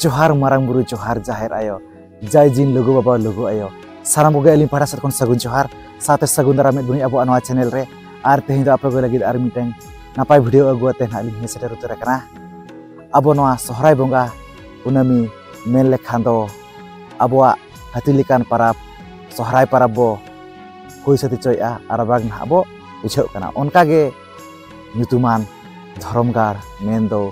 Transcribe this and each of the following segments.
ᱡᱚᱦᱟᱨ ᱢᱟᱨᱟᱝ ᱵᱩᱨᱩ ᱡᱚᱦᱟᱨ ᱡᱟᱦᱮᱨ ᱟᱭᱳ ᱡᱟᱭ ᱡᱤᱱ ᱞᱩᱜᱩ ᱵᱟᱵᱟ ᱞᱩᱜᱩ ᱟᱭᱳ ᱥᱟᱱᱟᱢ ᱠᱚᱜᱮ ᱟᱹᱞᱤᱧ ᱯᱟᱦᱴᱟ ᱥᱮᱫ ᱠᱷᱚᱱ ᱥᱟᱹᱜᱩᱱ ᱡᱚᱦᱟᱨ ᱥᱟᱶᱛᱮ ᱥᱟᱹᱜᱩᱱ ᱫᱟᱨᱟᱢ ᱮᱫ ᱵᱚᱱᱟᱹᱧ ᱟᱵᱚᱣᱟᱜ ᱱᱚᱣᱟ ᱪᱮᱱᱮᱞ ᱨᱮ ᱟᱨ ᱛᱮᱦᱮᱧ ᱫᱚ ᱟᱯᱮ ᱠᱚ ᱞᱟᱹᱜᱤᱫ ᱟᱨ ᱢᱤᱫᱴᱟᱝ ᱱᱟᱯᱟᱭ ᱵᱷᱤᱰᱤᱭᱳ ᱟᱹᱜᱩ ᱟᱛᱮ ᱱᱟᱦᱟᱜ ᱞᱤᱧ ᱥᱮᱴᱮᱨ ᱩᱛᱟᱹᱨ ᱟᱠᱟᱱᱟ ᱟᱵᱚ ᱱᱚᱣᱟ ᱥᱚᱦᱨᱟᱭ ᱵᱚᱸᱜᱟ ᱠᱩᱱᱟᱹᱢᱤ ᱢᱮᱱ ᱞᱮᱠᱷᱟᱱ ᱫᱚ ᱟᱵᱚᱣᱟᱜ ᱦᱟᱹᱛᱤ ᱞᱮᱠᱟᱱ ᱯᱟᱨᱟᱵᱽ ᱥᱚᱦᱨᱟᱭ ᱯᱟᱨᱟᱵᱽ ᱵᱚ ᱦᱩᱭ ᱥᱟᱹᱛ ᱦᱚᱪᱚᱭᱮᱫᱼᱟ ᱟᱨ ᱵᱟᱝ ᱱᱟᱦᱟᱜ ᱵᱚ ᱵᱩᱡᱷᱟᱹᱜ ᱠᱟᱱᱟ ᱚᱱᱠᱟᱜᱮ ᱧᱩᱛᱩᱢᱟᱱ ᱫᱷᱚᱨᱚᱢ ᱜᱟᱲ ᱢᱮᱱᱫᱚ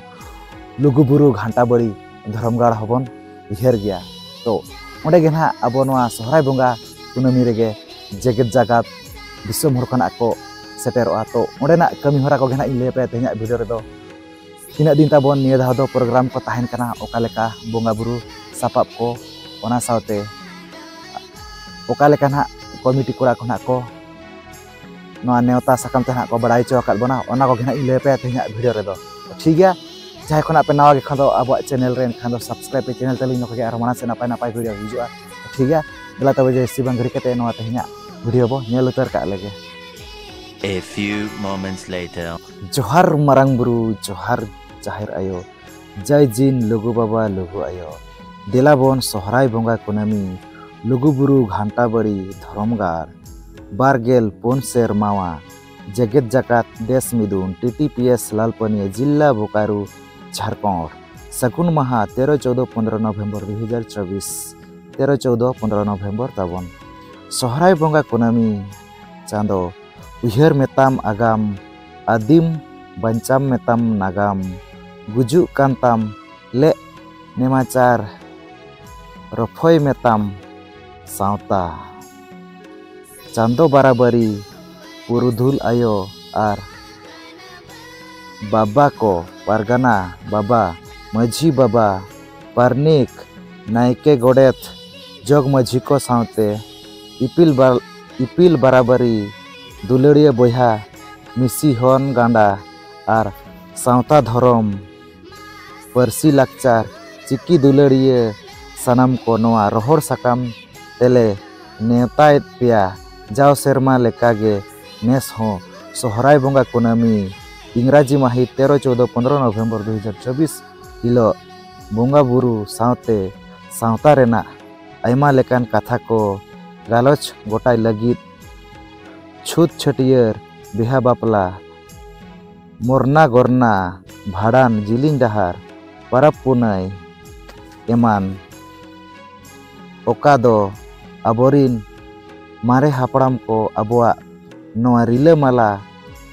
ᱞᱩᱜᱩᱵᱩᱨᱩ ᱜᱷᱟᱱᱴᱟ ᱵᱟᱹᱲᱤ ᱫᱷᱚᱨᱚᱢ ᱜᱟᱲ ᱦᱚᱸᱵᱚᱱ ᱩᱭᱦᱟᱹᱨ ᱜᱮᱭᱟ ᱛᱚ ᱚᱸᱰᱮ ᱜᱮ ᱱᱟᱦᱟᱜ ᱟᱵᱚ ᱱᱚᱣᱟ ᱥᱚᱦᱨᱟᱭ ᱵᱚᱸᱜᱟ ᱠᱩᱱᱟᱹᱢᱤ ᱨᱮᱜᱮ ᱡᱮᱜᱮᱛ ᱡᱟᱠᱟᱛ ᱫᱤᱥᱚᱢ ᱦᱚᱲ ᱠᱷᱚᱱᱟᱜ ᱠᱚ ᱥᱮᱴᱮᱨᱚᱜᱼᱟ ᱛᱚ ᱚᱸᱰᱮᱱᱟᱜ ᱠᱟᱹᱢᱤ ᱦᱚᱨᱟ ᱠᱚᱜᱮ ᱱᱟᱦᱟᱜ ᱤᱧ ᱞᱟᱹᱭ ᱟᱯᱮᱭᱟ ᱛᱮᱦᱮᱧᱟᱜ ᱵᱷᱤᱰᱤᱭᱳ ᱨᱮᱫᱚ ᱛᱤᱱᱟᱹᱜ ᱫᱤᱱ ᱛᱟᱵᱚᱱ ᱱᱤᱭᱟᱹ ᱫᱷᱟᱣ ᱫᱚ ᱯᱨᱳᱜᱨᱟᱢ ᱠᱚ ᱛᱟᱦᱮᱱ ᱠᱟᱱᱟ ᱚᱠᱟ ᱞᱮᱠᱟ ᱵᱚᱸᱜᱟ ᱵᱩᱨᱩ ᱥᱟᱯᱟᱵ ᱠᱚ ᱚᱱᱟ ᱥᱟᱶᱛᱮ ᱚᱠᱟ ᱞᱮᱠᱟ ᱱᱟᱜ ᱠᱚᱢᱤᱴᱤ ᱠᱚᱲᱟ ᱠᱚ ᱱᱟᱜ ᱠᱚ ᱱᱚᱣᱟ ᱱᱮᱣᱛᱟ ᱥᱟᱠᱟᱢ ᱛᱮ ᱱᱟᱜ ᱠᱚ ᱵᱟᱲᱟᱭ ᱦᱚᱪᱚ ᱟᱠᱟᱫ ᱵᱚᱱᱟ ᱚᱱᱟ ᱠᱚᱜᱮ ᱱᱟᱜ ᱤᱧ ᱞᱟᱹᱭ ᱟᱯᱮᱭᱟ ᱛᱮᱦᱮᱧᱟᱜ ᱵᱷᱤᱰᱤᱭᱳ ᱨᱮᱫᱚ ᱴᱷᱤᱠ ᱜᱮᱭᱟ ᱡᱟᱦᱟᱸᱭ ᱠᱷᱚᱱᱟᱜ ᱯᱮ ᱱᱟᱣᱟ ᱜᱮ ᱠᱷᱟᱱ ᱫᱚ ᱟᱵᱚᱣᱟᱜ ᱪᱮᱱᱮᱞ ᱨᱮ ᱮᱱᱠᱷᱟᱱ ᱫᱚ ᱥᱟᱵᱥᱠᱨᱟᱭᱤᱵ ᱯᱮ ᱪᱮᱱᱮᱞ ᱛᱟᱹᱞᱤᱧ ᱱᱚᱝᱠᱟ ᱜᱮ ᱟᱨᱦᱚᱸ ᱢᱟᱲᱟᱝ ᱥᱮᱫ ᱱᱟᱯᱟᱭ ᱱᱟᱯᱟᱭ ᱵᱷᱤᱰᱤᱭᱳ ᱦᱤᱡᱩᱜᱼᱟ ᱴᱷᱤᱠ ᱜᱮᱭᱟ ᱫᱮᱞᱟ ᱛᱚᱵᱮ ᱡᱟᱹᱥᱛᱤ ᱵᱟᱝ ᱜᱷᱟᱹᱲᱤ ᱠᱟᱛᱮ ᱱᱚᱣᱟ ᱛᱮᱦᱮᱧᱟᱜ ᱵᱷᱤᱰᱤᱭᱳ ᱵᱚ ᱧᱮᱞ ᱩᱛᱟᱹᱨ ᱠᱟᱜ ᱞᱮᱜᱮ A few moments later ᱡᱚᱦᱟᱨ ᱢᱟᱨᱟᱝ ᱵᱩᱨᱩ ᱡᱚᱦᱟᱨ ᱡᱟᱦᱮᱨ ᱟᱭᱳ ᱡᱟᱭ ᱡᱤᱱ ᱞᱩᱜᱩ ᱵᱟᱵᱟ ᱞᱩᱜᱩ ᱟᱭᱳ ᱫᱮᱞᱟ ᱵᱚᱱ ᱥᱚᱦᱨᱟᱭ ᱵᱚᱸᱜᱟ ᱠᱩᱱᱟᱹᱢᱤ ᱞᱩᱜᱩ ᱵᱩᱨᱩ ᱜᱷᱟᱱᱴᱟ ᱵᱟᱹᱲᱤ ᱫᱷᱚᱨᱚᱢ ᱜᱟᱲ ᱵᱟᱨᱜᱮᱞ ᱯᱩᱱ ᱥᱮᱨᱢᱟᱣᱟ ᱡᱮᱜᱮᱛ ᱡᱟᱠᱟᱛ ᱫᱮᱥ ᱢᱤᱫᱩᱱ T T P S Lalpania ᱡᱤᱞᱞᱟ ᱵᱳᱠᱟᱨᱩ ᱡᱷᱟᱲᱠᱷᱚᱸᱰ ᱥᱟᱹᱜᱩᱱ ᱢᱟᱦᱟ ᱛᱮᱨᱚ ᱪᱳᱫᱚ ᱯᱚᱱᱫᱨᱚ ᱱᱚᱵᱷᱮᱢᱵᱚᱨ ᱫᱩ ᱦᱟᱡᱟᱨ ᱪᱚᱵᱽᱵᱤᱥ ᱛᱮᱨᱚ ᱪᱳᱫᱚ ᱯᱚᱱᱫᱨᱚ ᱱᱚᱵᱷᱮᱢᱵᱚᱨ ᱛᱟᱵᱚᱱ ᱥᱚᱦᱨᱟᱭ ᱵᱚᱸᱜᱟ ᱠᱩᱱᱟᱹᱢᱤ ᱪᱟᱸᱫᱚ ᱩᱭᱦᱟᱹᱨ ᱢᱮᱛᱟᱢ ᱟᱜᱟᱢ ᱟᱹᱫᱤᱢ ᱵᱟᱧᱪᱟᱢ ᱢᱮᱛᱟᱢ ᱱᱟᱜᱟᱢ ᱜᱩᱡᱩᱜ ᱠᱟᱱ ᱛᱟᱢ ᱞᱮᱜ ᱱᱮᱢᱟᱪᱟᱨ ᱨᱚᱯᱷᱚᱭ ᱢᱮᱛᱟᱢ ᱥᱟᱶᱛᱟ ᱪᱟᱸᱫᱚ ᱵᱟᱨᱟᱵᱟᱹᱨᱤ ᱯᱩᱨᱩᱫᱷᱩᱞ ᱟᱭᱳ ᱟᱨ ᱵᱟᱵᱟ ᱠᱚ ᱯᱟᱨᱜᱟᱱᱟ ᱵᱟᱵᱟ ᱢᱟᱹᱡᱷᱤ ᱵᱟᱵᱟ ᱯᱟᱨᱱᱤᱠ ᱱᱟᱭᱠᱮ ᱜᱚᱰᱮᱛ ᱡᱚᱜᱽ ᱢᱟᱹᱡᱷᱤ ᱠᱚ ᱥᱟᱶᱛᱮ ᱤᱯᱤᱞ ᱤᱯᱤᱞ ᱵᱟᱨᱟᱵᱟᱨᱤ ᱫᱩᱞᱟᱹᱲᱤᱭᱟᱹ ᱵᱚᱭᱦᱟ ᱢᱤᱥᱤ ᱦᱚᱱ ᱜᱟᱸᱰᱟ ᱟᱨ ᱥᱟᱶᱛᱟ ᱫᱷᱚᱨᱚᱢ ᱯᱟᱹᱨᱥᱤ ᱞᱟᱠᱪᱟᱨ ᱪᱤᱠᱤ ᱫᱩᱞᱟᱹᱲᱤᱭᱟᱹ ᱥᱟᱱᱟᱢ ᱠᱚ ᱱᱚᱣᱟ ᱨᱚᱦᱚᱲ ᱥᱟᱠᱟᱢ ᱛᱮᱞᱮ ᱱᱮᱣᱛᱟᱭᱮᱫ ᱯᱮᱭᱟ ᱡᱟᱣ ᱥᱮᱨᱢᱟ ᱞᱮᱠᱟ ᱜᱮ ᱱᱮᱥ ᱦᱚᱸ ᱥᱚᱦᱨᱟᱭ ᱵᱚᱸᱜᱟ ᱠᱩᱱᱟᱹᱢᱤ ᱤᱝᱨᱟᱡᱤ ᱢᱟᱹᱦᱤᱛ ᱛᱮᱨᱚ ᱪᱳᱫᱚ ᱯᱚᱱᱫᱨᱚ ᱱᱚᱵᱷᱮᱢᱵᱚᱨ ᱫᱩ ᱦᱟᱡᱟᱨ ᱪᱚᱵᱽᱵᱤᱥ ᱦᱤᱞᱳᱜ ᱵᱚᱸᱜᱟ ᱵᱩᱨᱩ ᱥᱟᱶᱛᱮ ᱥᱟᱶᱛᱟ ᱨᱮᱱᱟᱜ ᱟᱭᱢᱟ ᱞᱮᱠᱟᱱ ᱠᱟᱛᱷᱟ ᱠᱚ ᱜᱟᱞᱚᱪ ᱜᱚᱴᱟᱭ ᱞᱟᱹᱜᱤᱫ ᱪᱷᱩᱛ ᱪᱷᱟᱹᱴᱭᱟᱹᱨ ᱵᱤᱦᱟ ᱵᱟᱯᱞᱟ ᱢᱚᱨᱱᱟ ᱜᱚᱨᱱᱟ ᱵᱷᱟᱸᱰᱟᱱ ᱡᱤᱞᱤᱧ ᱰᱟᱦᱟᱨ ᱯᱟᱨᱟᱵᱽ ᱯᱩᱱᱟᱹᱭ ᱮᱢᱟᱱ ᱚᱠᱟ ᱫᱚ ᱟᱵᱚᱨᱤᱱ ᱢᱟᱨᱮ ᱦᱟᱯᱲᱟᱢ ᱠᱚ ᱟᱵᱚᱣᱟᱜ ᱱᱚᱣᱟ ᱨᱤᱞᱟᱹᱢᱟᱞᱟ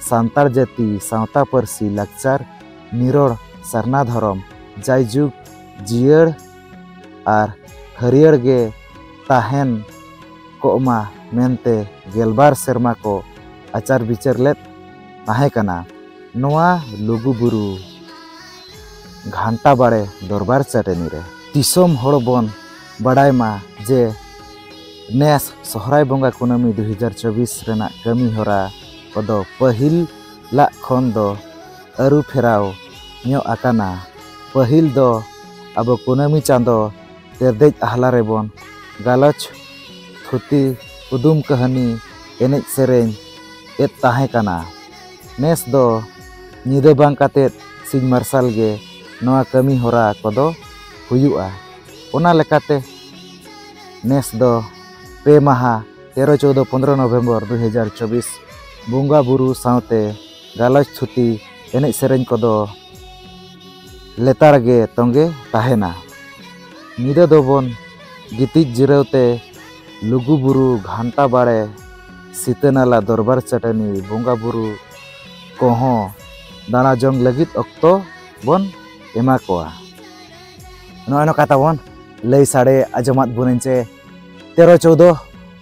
ᱥᱟᱱᱛᱟᱲ ᱡᱟᱹᱛᱤ ᱥᱟᱶᱛᱟ ᱯᱟᱹᱨᱥᱤ ᱞᱟᱠᱪᱟᱨ ᱱᱤᱨᱚᱲ ᱥᱟᱨᱱᱟ ᱫᱷᱚᱨᱚᱢ ᱡᱟᱭᱡᱩᱜᱽ ᱡᱤᱭᱟᱹᱲ ᱟᱨ ᱦᱟᱹᱨᱭᱟᱹᱲ ᱜᱮ ᱛᱟᱦᱮᱱ ᱠᱚᱜ ᱢᱟ ᱢᱮᱱᱛᱮ ᱜᱮᱞᱵᱟᱨ ᱥᱮᱨᱢᱟ ᱠᱚ ᱟᱪᱟᱨ ᱵᱤᱪᱟᱹᱨ ᱞᱮᱫ ᱛᱟᱦᱮᱸ ᱠᱟᱱᱟ᱾ ᱱᱚᱣᱟ ᱞᱩᱜᱩ ᱵᱩᱨᱩ ᱜᱷᱟᱱᱴᱟ ᱵᱟᱲᱮ ᱫᱚᱨᱵᱟᱨ ᱪᱟᱹᱴᱟᱹᱱᱤ ᱨᱮ᱾ ᱫᱤᱥᱚᱢ ᱦᱚᱲ ᱵᱚᱱ ᱵᱟᱰᱟᱭ ᱢᱟ ᱡᱮ ᱱᱮᱥ ᱥᱚᱦᱨᱟᱭ ᱵᱚᱸᱜᱟ ᱠᱩᱱᱟᱹᱢᱤ ᱫᱩ ᱦᱟᱡᱟᱨ ᱪᱚᱵᱽᱵᱤᱥ ᱨᱮᱱᱟᱜ ᱠᱟᱹᱢᱤ ᱦᱚᱨᱟ ᱠᱚᱫᱚ ᱯᱟᱹᱦᱤᱞᱟᱜ ᱠᱷᱚᱱ ᱫᱚ ᱟᱹᱨᱩ ᱯᱷᱮᱨᱟᱣ ᱧᱚᱜ ᱟᱠᱟᱱᱟ᱾ ᱯᱟᱹᱦᱤᱞ ᱫᱚ ᱟᱵᱚ ᱠᱩᱱᱟᱹᱢᱤ ᱪᱟᱸᱫᱚ ᱛᱮᱨᱫᱮᱡ ᱟᱦᱞᱟ ᱨᱮᱵᱚᱱ ᱜᱟᱞᱚᱪ, ᱛᱷᱩᱛᱤ, ᱠᱩᱫᱩᱢ ᱠᱟᱹᱦᱱᱤ, ᱮᱱᱮᱡ ᱥᱮᱨᱮᱧ ᱮᱫ ᱛᱟᱦᱮᱸ ᱠᱟᱱᱟ᱾ ᱱᱮᱥ ᱫᱚ ᱧᱤᱫᱟᱹ ᱵᱟᱝ ᱠᱟᱛᱮ ᱥᱤᱧ ᱢᱟᱨᱥᱟᱞ ᱜᱮ ᱱᱚᱣᱟ ᱠᱟᱹᱢᱤ ᱦᱚᱨᱟ ᱠᱚᱫᱚ ᱦᱩᱭᱩᱜᱼᱟ᱾ ᱚᱱᱟ ᱞᱮᱠᱟᱛᱮ ᱱᱮᱥ ᱫᱚ ᱯᱮ ᱢᱟᱦᱟ ᱛᱮᱨᱚ, ᱪᱳᱣᱫᱚ, ᱯᱚᱸᱫᱽᱨᱚ ᱱᱚᱵᱷᱮᱢᱵᱚᱨ ᱫᱩ ᱦᱟᱡᱟᱨ ᱪᱚᱵᱽᱵᱤᱥ ᱵᱚᱸᱜᱟ ᱵᱩᱨᱩ ᱥᱟᱶᱛᱮ ᱜᱟᱞᱚᱪ ᱛᱷᱩᱛᱤ ᱮᱱᱮᱡ ᱥᱮᱨᱮᱧ ᱠᱚᱫᱚ ᱞᱮᱛᱟᱲ ᱜᱮ ᱛᱚᱸᱜᱮ ᱛᱟᱦᱮᱱᱟ ᱧᱤᱫᱟᱹ ᱫᱚᱵᱚᱱ ᱜᱤᱛᱤᱡ ᱡᱤᱨᱟᱹᱣ ᱛᱮ ᱞᱩᱜᱩ ᱵᱩᱨᱩ ᱜᱷᱟᱱᱴᱟ ᱵᱟᱲᱮ ᱥᱤᱛᱟᱹ ᱱᱟᱞᱟ ᱫᱚᱨᱵᱟᱨ ᱪᱟᱹᱴᱟᱹᱱᱤ ᱵᱚᱸᱜᱟ ᱵᱩᱨᱩ ᱠᱚᱦᱚᱸ ᱫᱟᱬᱟ ᱡᱚᱝ ᱞᱟᱹᱜᱤᱫ ᱚᱠᱛᱚ ᱵᱚᱱ ᱮᱢᱟ ᱠᱚᱣᱟ ᱱᱚᱜᱼᱚᱸᱭ ᱱᱚᱝᱠᱟ ᱛᱟᱵᱚᱱ ᱞᱟᱹᱭ ᱥᱟᱰᱮ ᱟᱸᱡᱚᱢᱟᱫ ᱵᱚᱱᱟᱹᱧ ᱪᱮ ᱛᱮᱨᱚ ᱪᱳᱫᱚ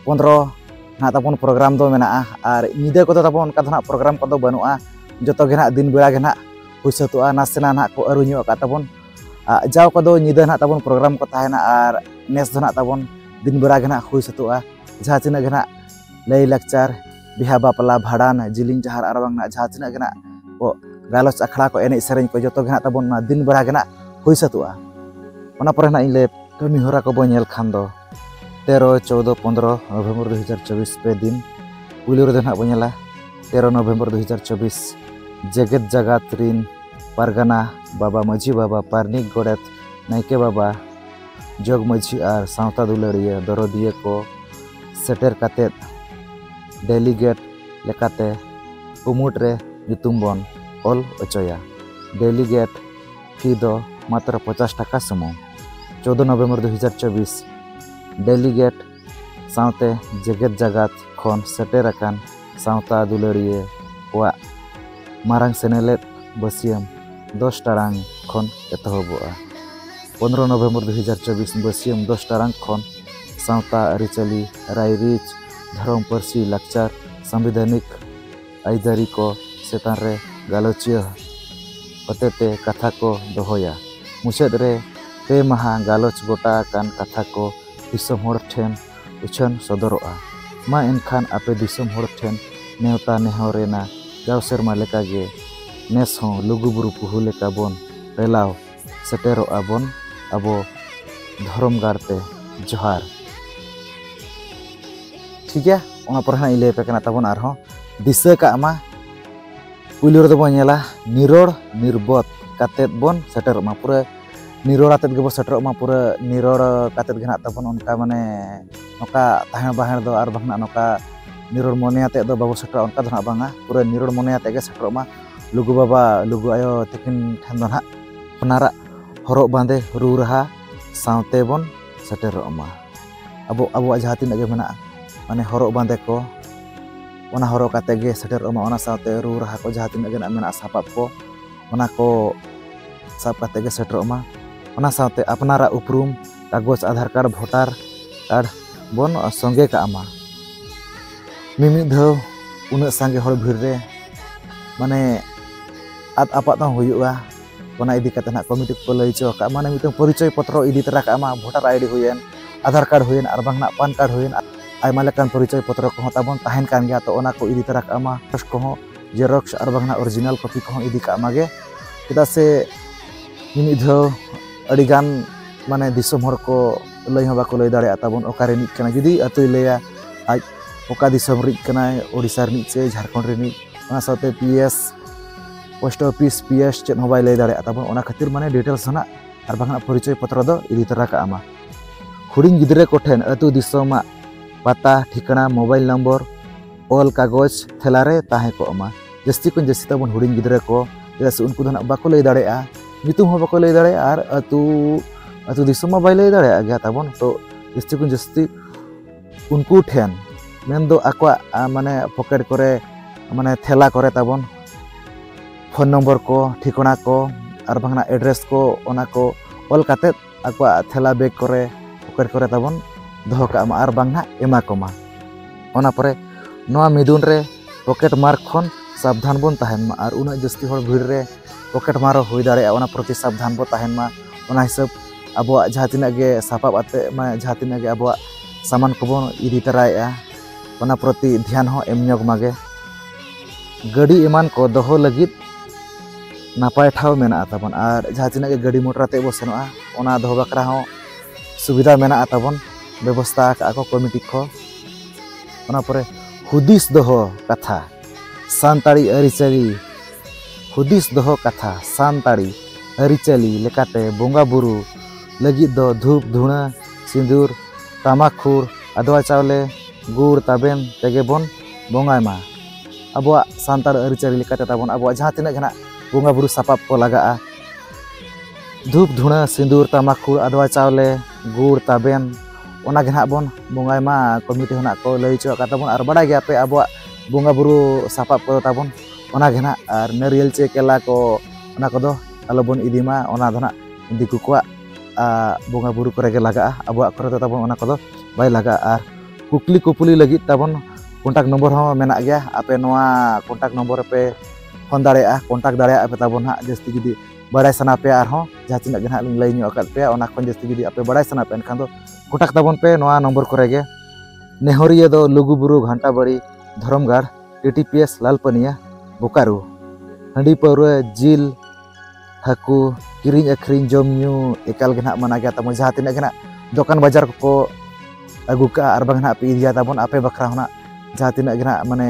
ᱯᱚᱱᱨᱚ ᱱᱟᱜ ᱛᱟᱵᱚᱱ ᱯᱨᱳᱜᱨᱟᱢ ᱫᱚ ᱢᱮᱱᱟᱜᱼᱟ ᱟᱨ ᱧᱤᱫᱟᱹ ᱠᱚᱫᱚ ᱛᱟᱵᱚᱱ ᱚᱱᱠᱟ ᱫᱚ ᱱᱟᱜ ᱯᱨᱳᱜᱨᱟᱢ ᱠᱚᱫᱚ ᱵᱟᱹᱱᱩᱜᱼᱟ ᱡᱚᱛᱚ ᱜᱮ ᱱᱟᱜ ᱫᱤᱱ ᱵᱮᱲᱟ ᱜᱮ ᱱᱟᱜ ᱦᱩᱭ ᱥᱟᱹᱛᱚᱜᱼᱟ ᱱᱟᱥᱮᱱᱟᱜ ᱱᱟᱜ ᱠᱚ ᱟᱹᱨᱩ ᱧᱚᱜ ᱟᱠᱟᱫ ᱛᱟᱵᱚᱱ ᱡᱟᱣ ᱠᱚᱫᱚ ᱧᱤᱫᱟᱹ ᱱᱟᱜ ᱛᱟᱵᱚᱱ ᱯᱨᱳᱜᱨᱟᱢ ᱠᱚ ᱛᱟᱦᱮᱱᱟ ᱟᱨ ᱱᱮᱥ ᱫᱚ ᱱᱟᱜ ᱛᱟᱵᱚᱱ ᱫᱤᱱ ᱵᱮᱲᱟ ᱜᱮ ᱱᱟᱜ ᱦᱩᱭ ᱥᱟᱹᱛᱚᱜᱼᱟ ᱡᱟᱦᱟᱸ ᱛᱤᱱᱟᱹᱜ ᱜᱮ ᱱᱟᱜ ᱞᱟᱹᱭ ᱞᱟᱠᱪᱟᱨ ᱵᱤᱦᱟ ᱵᱟᱯᱞᱟ ᱵᱷᱟᱲᱟᱱ ᱡᱤᱞᱤᱧ ᱡᱟᱦᱟᱨ ᱟᱨ ᱵᱟᱝ ᱡᱟᱦᱟᱸ ᱛᱤᱱᱟᱹᱜ ᱜᱮ ᱱᱟᱜ ᱠᱚ ᱜᱟᱞᱚᱪ ᱟᱠᱷᱲᱟ ᱠᱚ ᱮᱱᱮᱡ ᱥᱮᱨᱮᱧ ᱠᱚ ᱡᱚᱛᱚ ᱜᱮ ᱱᱟᱜ ᱛᱟᱵᱚᱱ ᱱᱚᱣᱟ ᱫᱤᱱ ᱵᱮᱲᱟ ᱜᱮ ᱱᱟᱜ ᱦᱩᱭ ᱥᱟᱹᱛᱚᱜᱼᱟ ᱚᱱᱟ ᱯᱚᱨᱮ ᱱᱟᱜ ᱤᱧ ᱞᱟᱹᱭ ᱠᱟᱹᱢᱤ ᱦᱚᱨᱟ ᱠᱚ ᱵᱚᱱ ᱧᱮᱞ ᱠᱷᱟᱱ ᱫᱚ ᱛᱮᱨᱚ ᱪᱳᱫᱚ ᱯᱚᱱᱫᱨᱚ ᱱᱚᱵᱷᱮᱢᱵᱚᱨ ᱫᱩ ᱦᱟᱡᱟᱨ ᱪᱚᱵᱵᱤᱥ ᱯᱮ ᱫᱤᱱ ᱯᱩᱭᱞᱩ ᱨᱮᱫᱚ ᱱᱟᱜ ᱵᱚᱱ ᱧᱮᱞᱟ ᱛᱮᱨᱚ ᱱᱚᱵᱷᱮᱢᱵᱚᱨ ᱫᱩ ᱦᱟᱡᱟᱨ ᱪᱚᱵᱵᱤᱥ ᱡᱮᱜᱮᱛ ᱡᱟᱜᱟᱛ ᱨᱤᱱ ᱯᱟᱨᱜᱟᱱᱟ ᱵᱟᱵᱟ ᱢᱟᱹᱡᱷᱤ ᱵᱟᱵᱟ ᱯᱟᱨᱱᱤᱠ ᱜᱚᱰᱮᱛ ᱱᱟᱭᱠᱮ ᱵᱟᱵᱟ ᱡᱚᱜᱽ ᱢᱟᱹᱡᱷᱤ ᱟᱨ ᱥᱟᱶᱛᱟ ᱫᱩᱞᱟᱹᱲᱤᱭᱟᱹ ᱫᱚᱨᱚᱫᱤᱭᱟᱹ ᱠᱚ ᱥᱮᱴᱮᱨ ᱠᱟᱛᱮ ᱰᱮᱞᱤᱜᱮᱴ ᱞᱮᱠᱟᱛᱮ ᱠᱩᱢᱩᱴ ᱨᱮ ᱧᱩᱛᱩᱢ ᱵᱚᱱ ᱚᱞ ᱚᱪᱚᱭᱟ ᱰᱮᱞᱤᱜᱮᱴ ᱯᱷᱤ ᱫᱚ ᱢᱟᱛᱨᱚ ᱯᱚᱪᱟᱥ ᱴᱟᱠᱟ ᱥᱩᱢᱩᱝ ᱪᱳᱫᱽᱫᱳ ᱱᱚᱵᱷᱮᱢᱵᱚᱨ ᱫᱩ ᱦᱟᱡᱟᱨ ᱪᱚᱵᱽᱵᱤᱥ ᱰᱮᱞᱤᱜᱮᱴ ᱥᱟᱶᱛᱮ ᱡᱮᱜᱮᱛ ᱡᱟᱠᱟᱛ ᱠᱷᱚᱱ ᱥᱮᱴᱮᱨ ᱟᱠᱟᱱ ᱥᱟᱶᱛᱟ ᱫᱩᱞᱟᱹᱲᱤᱭᱟᱹ ᱠᱚᱣᱟᱜ ᱢᱟᱨᱟᱝ ᱥᱮᱱᱮᱞᱮᱫ ᱵᱟᱹᱥᱭᱟᱹᱢ ᱫᱚᱥ ᱴᱟᱲᱟᱝ ᱠᱷᱚᱱ ᱮᱛᱚᱦᱚᱵᱚᱜᱼᱟ ᱯᱚᱱᱨᱚ ᱱᱚᱵᱷᱮᱢᱵᱚᱨ ᱫᱩ ᱦᱟᱡᱟᱨ ᱪᱚᱵᱵᱤᱥ ᱵᱟᱹᱥᱭᱟᱹᱢ ᱫᱚᱥ ᱴᱟᱲᱟᱝ ᱠᱷᱚᱱ ᱥᱟᱶᱛᱟ ᱟᱹᱨᱤᱪᱟᱹᱞᱤ ᱨᱟᱭᱨᱤᱛ ᱫᱷᱚᱨᱚᱢ ᱯᱟᱹᱨᱥᱤ ᱞᱟᱠᱪᱟᱨ ᱥᱟᱝᱵᱤᱫᱷᱟᱱᱤᱠ ᱟᱹᱭᱫᱟᱹᱨᱤ ᱠᱚ ᱪᱮᱛᱟᱱ ᱨᱮ ᱜᱟᱞᱚᱪᱤᱭᱟᱹ ᱦᱚᱛᱮᱛᱮ ᱠᱟᱛᱷᱟ ᱠᱚ ᱫᱚᱦᱚᱭᱟ᱾ ᱢᱩᱪᱟᱹᱫ ᱨᱮ ᱯᱮ ᱢᱟᱦᱟ ᱜᱟᱞᱚᱪ ᱜᱚᱴᱟ ᱟᱠᱟᱱ ᱠᱟᱛᱷᱟ ᱠᱚ ᱫᱤᱥᱚᱢ ᱦᱚᱲ ᱴᱷᱮᱱ ᱩᱪᱷᱟᱹᱱ ᱥᱚᱫᱚᱨᱚᱜᱼᱟ᱾ ᱢᱟ ᱮᱱᱠᱷᱟᱱ ᱟᱯᱮ ᱫᱤᱥᱚᱢ ᱦᱚᱲ ᱴᱷᱮᱱ ᱱᱮᱣᱛᱟ ᱱᱮᱦᱚᱨ ᱮᱱᱟ ᱡᱟᱣ ᱥᱮᱨᱢᱟ ᱞᱮᱠᱟ ᱜᱮ ᱱᱮᱥ ᱦᱚᱸ ᱞᱩᱜᱩ ᱵᱩᱨᱩ ᱯᱩᱦᱩ ᱞᱮᱠᱟ ᱵᱚᱱ ᱨᱮᱞᱟᱣ ᱥᱮᱴᱮᱨᱚᱜ ᱟᱵᱚᱱ ᱟᱵᱚ ᱫᱷᱚᱨᱚᱢ ᱜᱟᱲ ᱛᱮ ᱡᱚᱦᱟᱨ ᱴᱷᱤᱠ ᱜᱮᱭᱟ ᱚᱱᱟ ᱯᱚᱨᱮ ᱦᱟᱸᱜ ᱤᱧ ᱞᱟᱹᱭ ᱟᱯᱮ ᱠᱟᱱᱟ ᱛᱟᱵᱚᱱ ᱟᱨᱦᱚᱸ ᱫᱤᱥᱟᱹ ᱠᱟᱜ ᱢᱟ ᱯᱩᱭᱞᱩ ᱨᱮᱫᱚ ᱵᱚᱱ ᱧᱮᱞᱟ ᱱᱤᱨᱚᱲ ᱱᱤᱨᱵᱚᱫ ᱠᱟᱛᱮᱫ ᱵᱚᱱ ᱥᱮᱴᱮᱨᱚᱜ ᱢᱟ ᱯᱩᱨᱟᱹ ᱱᱤᱨᱚᱲ ᱟᱛᱮᱫ ᱜᱮᱵᱚᱱ ᱥᱮᱴᱮᱨᱚᱜ ᱢᱟ ᱯᱩᱨᱟᱹ ᱱᱤᱨᱚᱲ ᱠᱟᱛᱮᱫ ᱜᱮ ᱦᱟᱸᱜ ᱛᱟᱵᱚᱱ ᱚᱱᱠᱟ ᱢᱟᱱᱮ ᱱᱚᱝᱠᱟ ᱛᱟᱦᱮᱸ ᱵᱟᱦᱮᱸ ᱫᱚ ᱟᱨ ᱵᱟᱝ ᱱᱚᱝᱠᱟ ᱱᱤᱨᱚᱲ ᱢᱚᱱᱮ ᱟᱛᱮᱫ ᱫᱚ ᱵᱟᱵᱚ ᱥᱮᱴᱮᱨᱚᱜᱼᱟ ᱚᱱᱠᱟ ᱫᱚ ᱦᱟᱸᱜ ᱵᱟᱝᱟ ᱯᱩᱨᱟᱹ ᱱᱤᱨᱚᱲ ᱢᱚᱱᱮ ᱟᱛᱮᱫ ᱜᱮ ᱥᱮᱴᱮᱨᱚᱜ ᱢᱟ ᱞᱩᱜᱩ ᱵᱟᱵᱟ ᱞᱩᱜᱩ ᱟᱭᱳ ᱛᱟᱹᱠᱤᱱ ᱴᱷᱮᱱ ᱫᱚ ᱱᱟᱦᱟᱜ ᱟᱯᱱᱟᱨᱟᱜ ᱦᱚᱨᱚᱜ ᱵᱟᱸᱫᱮ ᱨᱩ ᱨᱟᱦᱟ ᱥᱟᱶᱛᱮ ᱵᱚᱱ ᱥᱮᱴᱮᱨᱚᱜ ᱢᱟ ᱟᱵᱚ ᱟᱵᱚᱣᱟᱜ ᱡᱟᱦᱟᱸ ᱛᱤᱱᱟᱹᱜ ᱜᱮ ᱢᱮᱱᱟᱜᱼᱟ ᱢᱟᱱᱮ ᱦᱚᱨᱚᱜ ᱵᱟᱸᱫᱮ ᱠᱚ ᱚᱱᱟ ᱦᱚᱨᱚᱜ ᱠᱟᱛᱮ ᱜᱮ ᱥᱮᱴᱮᱨᱚᱜ ᱢᱟ ᱚᱱᱟ ᱥᱟᱶᱛᱮ ᱨᱩ ᱨᱟᱦᱟ ᱠᱚ ᱡᱟᱦᱟᱸ ᱛᱤᱱᱟᱹᱜ ᱜᱮ ᱢᱮᱱᱟᱜᱼᱟ ᱥᱟᱯᱟᱵ ᱠᱚ ᱚᱱᱟ ᱠᱚ ᱥᱟᱵ ᱠᱟᱛᱮ ᱜᱮ ᱥᱮᱴᱮᱨᱚᱜ ᱢᱟ ᱚᱱᱟ ᱥᱟᱶᱛᱮ ᱟᱯᱱᱟᱨᱟᱜ ᱩᱯᱨᱩᱢ ᱠᱟᱜᱚᱡᱽ ᱟᱫᱷᱟᱨ ᱠᱟᱨᱰ ᱵᱷᱳᱴᱟᱨ ᱠᱟᱨᱰ ᱵᱚᱱ ᱥᱚᱸᱜᱮ ᱠᱟᱜ ᱢᱟ ᱢᱤᱢᱤᱫ ᱫᱷᱟᱣ ᱩᱱᱟᱹᱜ ᱥᱟᱸᱜᱮ ᱦᱚᱲ ᱵᱷᱤᱲ ᱨᱮ ᱢᱟᱱᱮ ᱟᱫ ᱟᱯᱟᱫ ᱦᱚᱸ ᱦᱩᱭᱩᱜᱼᱟ ᱚᱱᱟ ᱤᱫᱤ ᱠᱟᱛᱮ ᱱᱟᱜ ᱠᱚᱢᱤᱴᱤ ᱠᱚ ᱞᱟᱹᱭ ᱦᱚᱪᱚ ᱟᱠᱟᱫ ᱢᱟᱱᱮ ᱢᱤᱫᱴᱟᱝ ᱯᱚᱨᱤᱪᱚᱭ ᱯᱚᱛᱨᱚ ᱤᱫᱤ ᱛᱚᱨᱟ ᱠᱟᱜ ᱢᱟ ᱵᱷᱳᱴᱟᱨ ᱟᱭᱰᱤ ᱦᱩᱭᱮᱱ ᱟᱫᱷᱟᱨ ᱠᱟᱨᱰ ᱦᱩᱭᱮᱱ ᱟᱨ ᱵᱟᱝ ᱱᱟᱜ ᱯᱟᱱ ᱠᱟᱨᱰ ᱦᱩᱭᱮᱱ ᱟᱭᱢᱟ ᱞᱮᱠᱟᱱ ᱯᱚᱨᱤᱪᱚᱭ ᱯᱚᱛᱨᱚ ᱠᱚᱦᱚᱸ ᱛᱟᱵᱚᱱ ᱛᱟᱦᱮᱱ ᱠᱟᱱ ᱜᱮᱭᱟ ᱛᱚ ᱚᱱᱟ ᱠᱚ ᱤᱫᱤ ᱛᱚᱨᱟ ᱠᱟᱜ ᱢᱟ ᱯᱷᱟᱥᱴ ᱠᱚᱦᱚᱸ ᱡᱮᱨᱚᱠᱥ ᱟᱨ ᱵᱟᱝ ᱱᱟᱜ ᱚᱨᱤᱡᱤᱱᱟᱞ ᱠᱚᱯᱤ ᱠᱚᱦᱚᱸ ᱤᱫᱤ ᱠᱟᱜ ᱢᱟᱜᱮ ᱪᱮᱫᱟᱜ ᱥᱮ ᱢᱤᱢᱤᱫ ᱫᱷᱟᱣ ᱟᱹᱰᱤ ᱜᱟᱱ ᱢᱟᱱᱮ ᱫᱤᱥᱚᱢ ᱦᱚᱲ ᱠᱚ ᱞᱟᱹᱭ ᱦᱚᱸ ᱵᱟᱠᱚ ᱞᱟᱹᱭ ᱫᱟᱲᱮᱭᱟᱜ ᱛᱟᱵᱚᱱ ᱚᱠᱟ ᱨᱤᱱᱤᱡ ᱠᱟᱱᱟᱭ ᱡᱩᱫᱤ ᱟᱹᱛᱩᱭ ᱞᱟᱹᱭᱟ ᱟᱡ ᱚᱠᱟ ᱫᱤᱥᱚᱢ ᱨᱤᱱᱤᱡ ᱠᱟᱱᱟᱭ ᱳᱰᱤᱥᱟ ᱨᱤᱱᱤᱡ ᱥᱮ ᱡᱷᱟᱲᱠᱷᱚᱸᱰ ᱨᱤᱱᱤᱡ ᱚᱱᱟ ᱥᱟᱶᱛᱮ P S post office P S ᱪᱮᱫ ᱦᱚᱸ ᱵᱟᱭ ᱞᱟᱹᱭ ᱫᱟᱲᱮᱭᱟᱜ ᱛᱟᱵᱚᱱ ᱚᱱᱟ ᱠᱷᱟᱹᱛᱤᱨ ᱢᱟᱱᱮ ᱰᱤᱴᱮᱞᱥ ᱨᱮᱱᱟᱜ ᱟᱨ ᱵᱟᱝᱠᱷᱟᱱ ᱯᱚᱨᱤᱪᱚᱭ ᱯᱚᱛᱨᱚ ᱫᱚ ᱤᱫᱤ ᱛᱚᱨᱟ ᱠᱟᱜ ᱢᱟ ᱦᱩᱰᱤᱧ ᱜᱤᱫᱽᱨᱟᱹ ᱠᱚᱴᱷᱮᱱ ᱟᱹᱛᱩ ᱫᱤᱥᱚᱢᱟᱜ ᱯᱟᱛᱟ ᱴᱷᱤᱠᱟᱹᱱᱟ ᱢᱳᱵᱟᱭᱤᱞ ᱱᱚᱢᱵᱚᱨ ᱚᱞ ᱠᱟᱜᱚᱡᱽ ᱛᱷᱮᱞᱟ ᱨᱮ ᱛᱟᱦᱮᱸ ᱠᱚᱜ ᱢᱟ ᱡᱟᱹᱥᱛᱤ ᱠᱷᱚᱱ ᱡᱟᱹᱥᱛᱤ ᱛᱟᱵᱚᱱ ᱦᱩᱰᱤᱧ ᱜᱤᱫᱽᱨᱟᱹ ᱠᱚ ᱪᱮᱫᱟᱜ ᱥᱮ ᱩᱱᱠᱩ ᱫᱚ ᱱᱟᱜ ᱵᱟᱠᱚ ᱞᱟᱹᱭ ᱫᱟᱲᱮᱭᱟᱜᱼᱟ ᱧᱩᱛᱩᱢ ᱦᱚᱸ ᱵᱟᱠᱚ ᱞᱟᱹᱭ ᱫᱟᱲᱮᱭᱟᱜᱼᱟ ᱟᱨ ᱟᱹᱛᱩ ᱟᱹᱛᱩ ᱫᱤᱥᱚᱢ ᱢᱟ ᱵᱟᱭ ᱞᱟᱹᱭ ᱫᱟᱲᱮᱭᱟᱜ ᱜᱮᱭᱟ ᱛᱟᱵᱚᱱ ᱛᱚ ᱡᱟᱹᱥᱛᱤ ᱠᱷᱚᱱ ᱡᱟᱹᱥᱛᱤ ᱩᱱᱠᱩ ᱴᱷᱮᱱ ᱢᱮᱱᱫᱚ ᱟᱠᱚᱣᱟᱜ ᱢᱟᱱᱮ ᱯᱚᱠᱮᱴ ᱠᱚᱨᱮ ᱢᱟᱱᱮ ᱛᱷᱮᱞᱟ ᱠᱚᱨᱮ ᱛᱟᱵᱚᱱ ᱯᱷᱳᱱ ᱱᱚᱢᱵᱚᱨ ᱠᱚ ᱴᱷᱤᱠᱟᱹᱱᱟ ᱠᱚ ᱟᱨ ᱵᱟᱝᱟ ᱮᱰᱨᱮᱥ ᱠᱚ ᱚᱱᱟ ᱠᱚ ᱚᱞ ᱠᱟᱛᱮᱫ ᱟᱠᱚᱣᱟᱜ ᱛᱷᱮᱞᱟ ᱵᱮᱜᱽ ᱠᱚᱨᱮ ᱯᱚᱠᱮᱴ ᱠᱚᱨᱮ ᱛᱟᱵᱚᱱ ᱫᱚᱦᱚ ᱠᱟᱜ ᱢᱟ ᱟᱨ ᱵᱟᱝ ᱱᱟᱦᱟᱜ ᱮᱢᱟ ᱠᱚᱢᱟ ᱚᱱᱟ ᱯᱚᱨᱮ ᱱᱚᱣᱟ ᱢᱤᱫᱩᱱ ᱨᱮ ᱯᱚᱠᱮᱴ ᱢᱟᱨ ᱠᱷᱚᱱ ᱥᱟᱵᱫᱷᱟᱱ ᱵᱚᱱ ᱛᱟᱦᱮᱱ ᱢᱟ ᱟᱨ ᱩᱱᱟᱹᱜ ᱡᱟᱹᱥᱛᱤ ᱦᱚᱲ ᱵᱷᱤᱲ ᱨᱮ ᱯᱚᱠᱮᱴ ᱢᱟᱨ ᱦᱚᱸ ᱦᱩᱭ ᱫᱟᱲᱮᱭᱟᱜᱼᱟ ᱚᱱᱟ ᱯᱨᱚᱛᱤ ᱥᱟᱵᱫᱷᱟᱱ ᱵᱚᱱ ᱛᱟᱦᱮᱱ ᱢᱟ ᱚᱱᱟ ᱦᱤᱥᱟᱹᱵ ᱟᱵᱚᱣᱟᱜ ᱡᱟᱦᱟᱸ ᱛᱤᱱᱟᱹᱜ ᱜᱮ ᱥᱟᱯᱟᱵ ᱟᱛᱮᱫ ᱢᱟᱱᱮ ᱡᱟᱦᱟᱸ ᱛᱤᱱᱟᱹᱜ ᱜᱮ ᱟᱵᱚᱣᱟᱜ ᱥᱟᱢᱟᱱ ᱠᱚᱵᱚᱱ ᱤᱫᱤ ᱛᱟᱨᱟᱭᱮᱫᱼᱟ ᱚᱱᱟ ᱯᱨᱚᱛᱤ ᱫᱷᱮᱭᱟᱱ ᱦᱚᱸ ᱮᱢ ᱧᱚᱜᱽ ᱢᱟᱜᱮ ᱜᱟᱹᱰᱤ ᱮᱢᱟᱱ ᱠᱚ ᱫᱚᱦᱚ ᱞᱟᱹᱜᱤᱫ ᱱᱟᱯᱟᱭ ᱴᱷᱟᱶ ᱢᱮᱱᱟᱜᱼᱟ ᱛᱟᱵᱚᱱ ᱟᱨ ᱡᱟᱦᱟᱸ ᱛᱤᱱᱟᱹᱜ ᱜᱮ ᱜᱟᱹᱰᱤ ᱢᱚᱴᱚᱨ ᱟᱛᱮ ᱵᱚ ᱥᱮᱱᱚᱜᱼᱟ ᱚᱱᱟ ᱫᱚᱦᱚ ᱵᱟᱠᱷᱨᱟ ᱦᱚᱸ ᱥᱩᱵᱤᱫᱷᱟ ᱢᱮᱱᱟᱜᱼᱟ ᱛᱟᱵᱚᱱ ᱵᱮᱵᱚᱥᱛᱷᱟ ᱟᱠᱟᱫᱼᱟ ᱠᱚ ᱠᱚᱢᱤᱴᱤ ᱠᱚ ᱚᱱᱟ ᱯᱚᱨᱮ ᱦᱩᱫᱤᱥ ᱫᱚᱦᱚ ᱠᱟᱛᱷᱟ ᱥᱟᱱᱛᱟᱲᱤ ᱟᱹᱨᱤᱪᱟᱹᱞᱤ ᱦᱩᱫᱤᱥ ᱫᱚᱦᱚ ᱠᱟᱛᱷᱟ ᱥᱟᱱᱛᱟᱲᱤ ᱟᱹᱨᱤᱪᱟᱹᱞᱤ ᱞᱮᱠᱟᱛᱮ ᱵᱚᱸᱜᱟ ᱵᱩᱨᱩ ᱞᱟᱹᱜᱤᱫ ᱫᱚ ᱫᱷᱩᱯ ᱫᱷᱩᱬᱟᱹ ᱥᱤᱸᱫᱩᱨ ᱴᱟᱢᱟᱠ ᱠᱷᱩᱨ ᱟᱫᱽᱣᱟ ᱪᱟᱣᱞᱮ ᱜᱩᱲ ᱛᱟᱵᱮᱱ ᱛᱮᱜᱮ ᱵᱚᱱ ᱵᱚᱸᱜᱟᱭ ᱢᱟ ᱟᱵᱚᱣᱟᱜ ᱥᱟᱱᱛᱟᱲ ᱟᱹᱨᱤᱪᱟᱹᱞᱤ ᱞᱮᱠᱟᱛᱮ ᱛᱟᱵᱚᱱ ᱟᱵᱚᱣᱟᱜ ᱡᱟᱦᱟᱸ ᱛᱤᱱᱟᱹᱜ ᱜᱮ ᱱᱟᱜ ᱵᱚᱸᱜᱟ ᱵᱩᱨᱩ ᱥᱟᱯᱟᱵ ᱠᱚ ᱞᱟᱜᱟᱜᱼᱟ ᱫᱷᱩᱯ ᱫᱷᱩᱬᱟᱹ ᱥᱤᱸᱫᱩᱨ ᱛᱟᱢᱟᱠᱷᱩᱲ ᱟᱫᱽᱣᱟ ᱪᱟᱣᱞᱮ ᱜᱩᱲ ᱛᱟᱵᱮᱱ ᱚᱱᱟ ᱜᱮ ᱱᱟᱜ ᱵᱚᱱ ᱵᱚᱸᱜᱟᱭ ᱢᱟ ᱠᱚᱢᱤᱴᱤ ᱦᱚᱸ ᱱᱟᱜ ᱠᱚ ᱞᱟᱹᱭ ᱦᱚᱪᱚ ᱟᱠᱟᱫ ᱛᱟᱵᱚᱱ ᱟᱨ ᱵᱟᱰᱟᱭ ᱜᱮᱭᱟᱯᱮ ᱟᱵᱚᱣᱟᱜ ᱵᱚᱸᱜᱟ ᱵᱩᱨᱩ ᱥᱟᱯᱟᱵ ᱠᱚᱫᱚ ᱛᱟᱵᱚᱱ ᱚᱱᱟ ᱜᱮ ᱱᱟᱜ ᱟᱨ ᱱᱟᱹᱨᱤᱭᱮᱞ ᱪᱮ ᱠᱮᱞᱟ ᱠᱚ ᱚᱱᱟ ᱠᱚᱫᱚ ᱟᱞᱚᱵᱚᱱ ᱤᱫᱤ ᱢᱟ ᱚᱱᱟ ᱫᱚ ᱱᱟᱜ ᱫᱤᱠᱩ ᱠᱚᱣᱟᱜ ᱵᱚᱸᱜᱟ ᱵᱩᱨᱩ ᱠᱚᱨᱮ ᱜᱮ ᱞᱟᱜᱟᱜᱼᱟ ᱟᱵᱚᱣᱟᱜ ᱠᱚᱨᱮ ᱫᱚ ᱛᱟᱵᱚᱱ ᱚᱱᱟ ᱠᱚᱫᱚ ᱵᱟᱭ ᱞᱟᱜᱟᱜᱼᱟ ᱠᱩᱠᱞᱤ ᱠᱩᱯᱩᱞᱤ ᱞᱟᱹᱜᱤᱫ ᱛᱟᱵᱚᱱ ᱠᱚᱱᱴᱟᱠᱴ ᱱᱚᱢᱵᱚᱨ ᱦᱚᱸ ᱢᱮᱱᱟᱜ ᱜᱮᱭᱟ ᱟᱯᱮ ᱱᱚᱣᱟ ᱠᱚᱱᱴᱟᱠᱴ ᱱᱚᱢᱵᱚᱨ ᱨᱮᱯᱮ ᱯᱷᱳᱱ ᱫᱟᱲᱮᱭᱟᱜᱼᱟ ᱠᱚᱱᱴᱟᱠᱴ ᱫᱟᱲᱮᱭᱟᱜᱼᱟ ᱯᱮ ᱛᱟᱵᱚᱱ ᱦᱟᱸᱜ ᱡᱟᱹᱥᱛᱤ ᱡᱩᱫᱤ ᱵᱟᱲᱟᱭ ᱥᱟᱱᱟ ᱯᱮᱭᱟ ᱟᱨᱦᱚᱸ ᱡᱟᱦᱟᱸ ᱛᱤᱱᱟᱹᱜ ᱜᱮ ᱦᱟᱸᱜ ᱞᱤᱧ ᱞᱟᱹᱭ ᱧᱚᱜ ᱟᱠᱟᱫ ᱯᱮᱭᱟ ᱚᱱᱟ ᱠᱷᱚᱱ ᱡᱟᱹᱥᱛᱤ ᱡᱩᱫᱤ ᱟᱯᱮ ᱵᱟᱲᱟᱭ ᱥᱟᱱᱟ ᱯᱮᱭᱟ ᱮᱱᱠᱷᱟᱱ ᱫᱚ ᱠᱚᱱᱴᱟᱠᱴ ᱛᱟᱵᱚᱱ ᱯᱮ ᱱᱚᱣᱟ ᱱᱚᱢᱵᱚᱨ ᱠᱚᱨᱮ ᱜᱮ ᱱᱮᱦᱚᱨᱤᱭᱟᱹ ᱫᱚ ᱞᱩᱜᱩᱵᱩᱨᱩ ᱜᱷᱟᱱᱴᱟᱵᱟᱲᱤ ᱫᱷᱚᱨᱚᱢᱜᱟᱲ ᱴᱤᱴᱤᱯᱤᱮᱥ ᱞᱟᱞᱯᱟᱹᱱᱤᱭᱟ ᱵᱳᱠᱟᱨᱳ ᱦᱟᱺᱰᱤ ᱯᱟᱹᱣᱨᱟᱹ ᱡᱤᱞ ᱦᱟᱹᱠᱩ ᱠᱤᱨᱤᱧ ᱟᱹᱠᱷᱨᱤᱧ ᱡᱚᱢ ᱧᱩ ᱮᱠᱟᱞ ᱜᱮ ᱱᱟᱦᱟᱜ ᱢᱟᱱᱟ ᱜᱮᱭᱟ ᱛᱟᱵᱚᱱ ᱡᱟᱦᱟᱸ ᱛᱤᱱᱟᱹᱜ ᱜᱮ ᱱᱟᱦᱟᱜ ᱫᱚᱠᱟᱱ ᱵᱟᱡᱟᱨ ᱠᱚᱠᱚ ᱟᱹᱜᱩ ᱠᱟᱜᱼᱟ ᱟᱨ ᱵᱟᱝ ᱱᱟᱦᱟᱜ ᱯᱮ ᱤᱫᱤᱭᱟ ᱛᱟᱵᱚᱱ ᱟᱯᱮ ᱵᱟᱠᱷᱨᱟ ᱦᱚᱸ ᱱᱟᱦᱟᱜ ᱡᱟᱦᱟᱸ ᱛᱤᱱᱟᱹᱜ ᱜᱮ ᱱᱟᱦᱟᱜ ᱢᱟᱱᱮ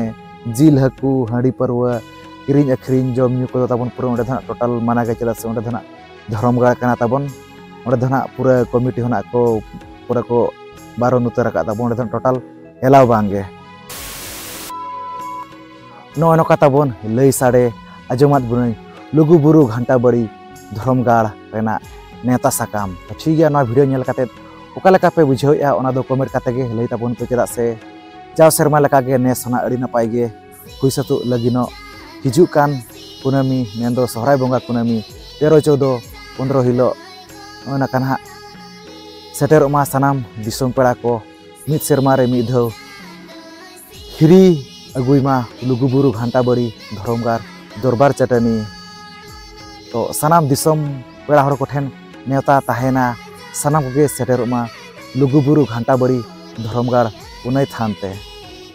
ᱡᱤᱞ ᱦᱟᱹᱠᱩ ᱦᱟᱺᱰᱤ ᱯᱟᱹᱨᱣᱟᱹ ᱠᱤᱨᱤᱧ ᱟᱹᱠᱷᱨᱤᱧ ᱡᱚᱢ ᱧᱩ ᱠᱚᱫᱚ ᱛᱟᱵᱚᱱ ᱯᱩᱨᱟᱹ ᱚᱸᱰᱮ ᱫᱚ ᱱᱟᱦᱟᱜ ᱴᱳᱴᱟᱞ ᱢᱟᱱᱟ ᱜᱮ ᱪᱮᱫᱟᱜ ᱥᱮ ᱚᱸᱰᱮ ᱫᱚ ᱱᱟᱦᱟᱜ ᱫᱷᱚᱨᱚᱢ ᱜᱟᱲ ᱠᱟᱱᱟ ᱛᱟᱵᱚᱱ ᱚᱸᱰᱮ ᱫᱚ ᱱᱟᱦᱟᱜ ᱯᱩᱨᱟᱹ ᱠᱚᱢᱤᱴᱤ ᱦᱚᱸ ᱱᱟᱦᱟᱜ ᱠᱚ ᱯᱩᱨᱟᱹ ᱠᱚ ᱵᱟᱨᱚᱱ ᱩᱛᱟᱹᱨ ᱟᱠᱟᱫ ᱛᱟᱵᱚᱱ ᱚᱸᱰᱮ ᱫᱚ ᱴᱳᱴᱟᱞ ᱮᱞᱟᱣ ᱵᱟᱝᱜᱮ ᱱᱚᱜᱼᱚ ᱱᱚᱝᱠᱟ ᱛᱟᱵᱚᱱ ᱞᱟᱹᱭ ᱥᱟᱰᱮ ᱟᱸᱡᱚᱢᱟᱫ ᱵᱚᱱᱟᱹᱧ ᱞᱩᱜᱩ ᱵᱩᱨᱩ ᱜᱷᱟᱱᱴᱟ ᱵᱟᱹᱲᱤ ᱫᱷᱚᱨᱚᱢ ᱜᱟᱲ ᱨᱮᱱᱟᱜ ᱱᱮᱣᱛᱟ ᱥᱟᱠᱟᱢ ᱛᱚ ᱴᱷᱤᱠ ᱜᱮᱭᱟ ᱱᱚᱣᱟ ᱵᱷᱤᱰᱤᱭᱳ ᱧᱮᱞ ᱠᱟᱛᱮ ᱚᱠᱟ ᱞᱮᱠᱟ ᱯᱮ ᱵᱩᱡᱷᱟᱹᱣᱮᱜᱼᱟ ᱚᱱᱟ ᱫᱚ ᱠᱚᱢᱮᱱᱴ ᱠᱟᱛᱮ ᱜᱮ ᱞᱟᱹᱭ ᱛᱟᱵᱚᱱ ᱯᱮ ᱪᱮᱫᱟᱜ ᱥᱮ ᱡᱟᱣ ᱥᱮᱨᱢᱟ ᱞᱮᱠᱟ ᱜᱮ ᱱᱮᱥ ᱦᱚᱸ ᱟᱹᱰᱤ ᱱᱟᱯᱟᱭ ᱜᱮ ᱦᱩᱭ ᱥᱟᱹᱛᱚᱜ ᱞᱟᱹᱜᱤᱫᱚᱜ ᱦᱤᱡᱩᱜ ᱠᱟᱱ ᱠᱩᱱᱟᱹᱢᱤ ᱢᱮᱱᱫᱚ ᱥᱚᱦᱨᱟᱭ ᱵᱚᱸᱜᱟ ᱠᱩᱱᱟᱹᱢᱤ ᱛᱮᱨᱚ ᱪᱳᱫᱚ ᱯᱚᱱᱨᱚ ᱦᱤᱞᱳᱜ ᱚᱱᱟ ᱠᱟᱱ ᱦᱟᱸᱜ ᱥᱮᱴᱮᱨᱚᱜ ᱢᱟ ᱥᱟᱱᱟᱢ ᱫᱤᱥᱚᱢ ᱯᱮᱲᱟ ᱠᱚ ᱢᱤᱫ ᱥᱮᱨᱢᱟ ᱨᱮ ᱢᱤᱫ ᱫᱷᱟᱣ ᱦᱤᱨᱤ ᱟᱹᱜᱩᱭ ᱢᱟ ᱞᱩᱜᱩ ᱵᱩᱨᱩ ᱜᱷᱟᱱᱴᱟ ᱵᱟᱹᱲᱤ ᱫᱷᱚᱨᱚᱢ ᱜᱟᱲ ᱫᱚᱨᱵᱟᱨ ᱪᱟᱹᱴᱟᱹᱱᱤ ᱛᱚ ᱥᱟᱱᱟᱢ ᱫᱤᱥᱚᱢ ᱯᱮᱲᱟ ᱦᱚᱲ ᱠᱚᱴᱷᱮᱱ ᱱᱮᱣᱛᱟ ᱛᱟᱦᱮᱱᱟ ᱥᱟᱱᱟᱢ ᱠᱚᱜᱮ ᱥᱮᱴᱮᱨᱚᱜ ᱢᱟ ᱞᱩᱜᱩ ᱵᱩᱨᱩ ᱜᱷᱟᱱᱴᱟ ᱵᱟᱹᱲᱤ ᱫᱷᱚᱨᱚᱢ ᱜᱟᱲ ᱯᱩᱱᱟᱹᱭ ᱛᱷᱟᱱ ᱛᱮ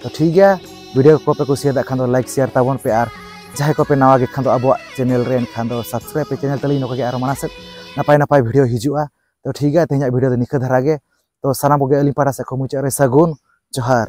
ᱛᱚ ᱴᱷᱤᱠ ᱜᱮᱭᱟ ᱵᱷᱤᱰᱤᱭᱳ ᱠᱚᱯᱮ ᱠᱩᱥᱤᱭᱟᱫᱟ ᱠᱷᱟᱱ ᱫᱚ ᱞᱟᱭᱤᱠ ᱥᱮᱭᱟᱨ ᱛᱟᱵᱚᱱ ᱯᱮ ᱟᱨ ᱡᱟᱦᱟᱸᱭ ᱠᱚᱯᱮ ᱱᱟᱣᱟ ᱜᱮ ᱠᱷᱟᱱ ᱫᱚ ᱟᱵᱚᱣᱟᱜ ᱪᱮᱱᱮᱞ ᱨᱮ ᱮᱱᱠᱷᱟᱱ ᱫᱚ ᱥᱟᱵᱥᱠᱨᱟᱭᱤᱵ ᱯᱮ ᱪᱮᱱᱮᱞ ᱛᱟᱹᱞᱤᱧ ᱱᱚᱝᱠᱟ ᱜᱮ ᱟᱨᱚ ᱢᱟᱲᱟᱝ ᱥᱮᱫ ᱱᱟᱯᱟᱭ ᱱᱟᱯᱟᱭ ᱵᱷᱤᱰᱤᱭᱳ ᱦᱤᱡᱩᱜᱼᱟ ᱛᱚ ᱴᱷᱤᱠ ᱜᱮᱭᱟ ᱛᱮᱦᱮᱧᱟᱜ ᱵᱷᱤᱰᱤᱭᱳ ᱫᱚ ᱱᱤᱝᱠᱟᱹ ᱫᱷᱟᱨᱟ ᱜᱮ ᱛᱚ ᱥᱟᱱᱟᱢ ᱠᱚᱜᱮ ᱟᱹᱞᱤᱧ ᱯᱟᱦᱴᱟ ᱥᱮᱫ ᱠᱷᱚᱱ ᱢᱩᱪᱟᱹᱫ ᱨᱮ ᱥᱟᱹᱜᱩᱱ ᱡᱚᱦᱟᱨ